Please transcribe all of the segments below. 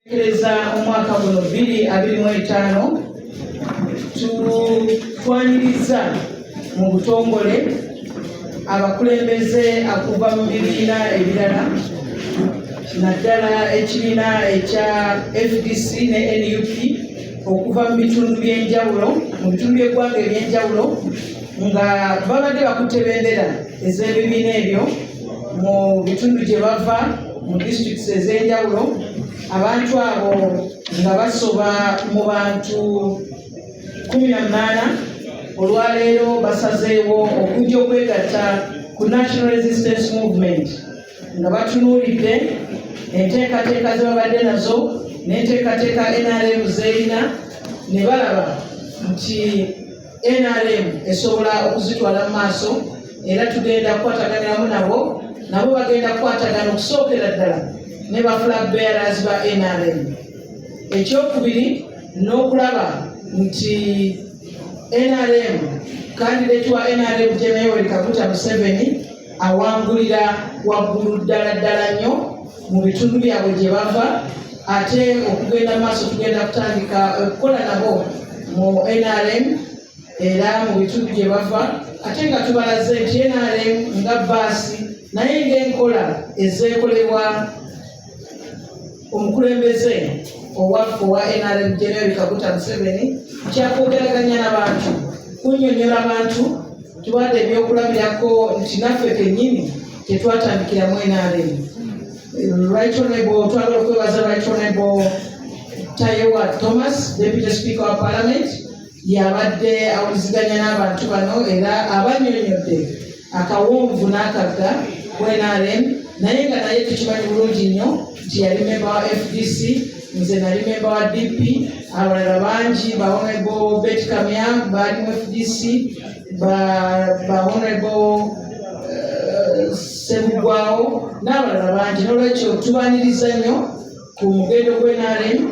Tekereza omwaka guno bbiri abiri mu etaano tutwanirizza mu butongole abakulembeze akuva mu bibiina ebirala naddala ekibiina ekya fdc ne nup okuva mu bitundu by'enjawulo mu bitundu by'eggwanga eby'enjawulo nga babadde bakutte bendera ez'ebibiina ebyo mu bitundu gye bava mu disitulikisi ez'enjawulo abantu abo nga basoba mu bantu kumi na munaana olwaleero basazeewo okujja okwegatta ku national resistance movement nga batunuulidde enteekateeka ze babadde nazo n'enteekateeka nrm zerina ne balaba nti nrm esobola okuzitwala mu maaso era tugenda kukwataganiramu nabo nabo bagenda kukwatagana okusookera ddala ne ba flag bearers ba nrm ekyokubiri n'okulaba nti nrm kandidate wa nrm jenayoweri kaguta museveni awangulira waggulu ddala ddala nnyo mu bitundu byabwe gye bava ate okugenda mu maaso tugenda kutandika okukola nabo mu nrm era mu bitundu gye bava ate nga tubalaze nti nrm nga baasi naye ngaenkola ezeekolebwa omukulembeze owaffe owa nrm general kaguta museveni kyakwogeraganya nabantu kunyonyola bantu Tuwadde ebyokulabirako nti naffe kennyini tetwatandikira mu NRM. Right Honorable, twagala okwebaza Right Honorable Tayewa Thomas, Deputy Speaker wa Parliament, yabadde awuliziganya n'abantu bano era abanyonyodde akawonvu n'akagga ku NRM naye nga naye tukimanyi bulungi nnyo nti yali memba wa fdc nze nali memba wa dp abalala bangi ba honorable bet kamya baali mu fdc ba ba honorable eh, sebugwawo n'abalala bangi n'olwekyo tubaniriza nnyo ku mugendo gw'enaremu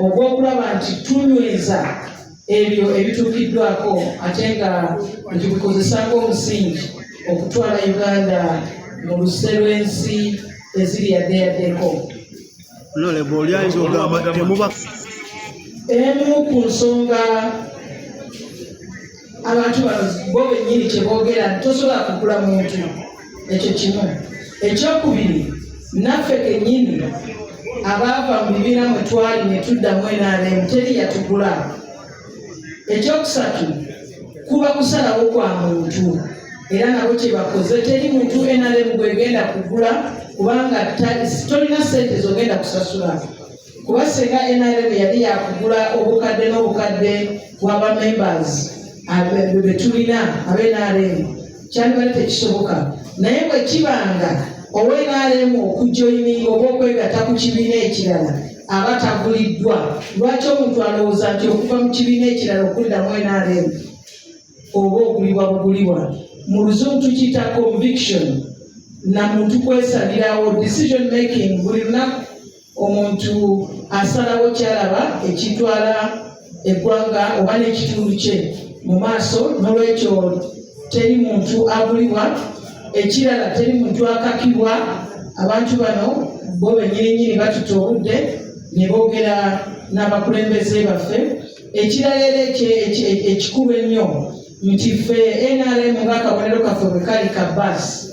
ogw'okulaba nti tunyweza ebyo ebituukiddwako ate nga tubikozesaako omusingi okutwala uganda mu luse lw'ensi eziri yaddeyaddeko emu ku nsonga abantu bano bo bennyini kyeboogera tosobola kugula muntu ekyo kimu ekyokubiri naffe kenyini abaava mu bibiina mwe twali ne tuddamu enaalemu teri yatugula ekyokusatu kuba kusalawo kwa muntu era nabo kyebakoze teri muntu enalemu gwegenda kugula kubanga tolina sente zogenda kusasula kuba singa nrm yali yakugula obukadde n'obukadde bwa bamembers betulina abe nrm kyandibadde tekisoboka naye bwekibanga owe nrm okujoyininga oba okwegatta ku kibiina ekirala aba taguliddwa lwaki omuntu alowooza nti okuva mu kibiina ekirala okuddamu nrm oba ogulibwa bugulibwa mu luzungu tukiyita conviction na muntu kwesalirawo decision making buli lunaku omuntu asalawo kyalaba ekitwala eggwanga oba n'ekitundu kye mu maaso n'olwekyo teri muntu abulibwa ekirala teri muntu akakibwa abantu bano bo benyininyini batuta obudde ne boogera n'abakulembeze baffe ekirala era ekikulu ennyo nti ffe nrm nga akabonero kaffe bwe kali ka baasi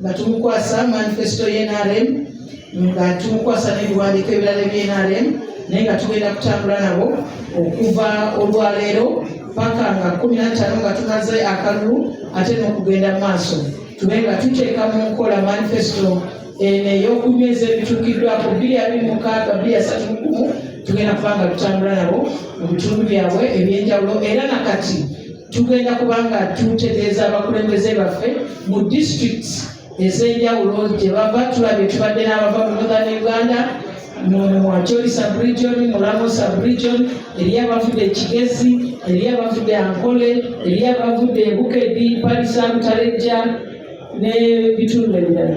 nga tumukwasa manifesito y'enrm nga tumukwasa n'ebiwandiiko ebirala eby'enrm naye nga tugenda kutambula nabo okuva olwaleero paka nga kumi nattaano nga tumaze akalulu ate n'okugenda mu maaso tube nga tuteeka mu nkola manifesito eno ey'okunyweza ebituukiddwako bbiri abiri mukaaga bbiri asatu mukumu tugenda kubanga tutambula nabo mu bitundu byabwe ebyenjawulo era nakati tugenda kuba nga tutegeeza abakulembeze baffe mu district ez'enjawulo gye bava tulabye tubadde n'abava mu northern uganda muwacholi subregion mulamo subregion eriyo abavudde ekigezi eriyo abavudde ankole eriyo abavudde ebukedi palisamutalejja n'ebitundu ebirala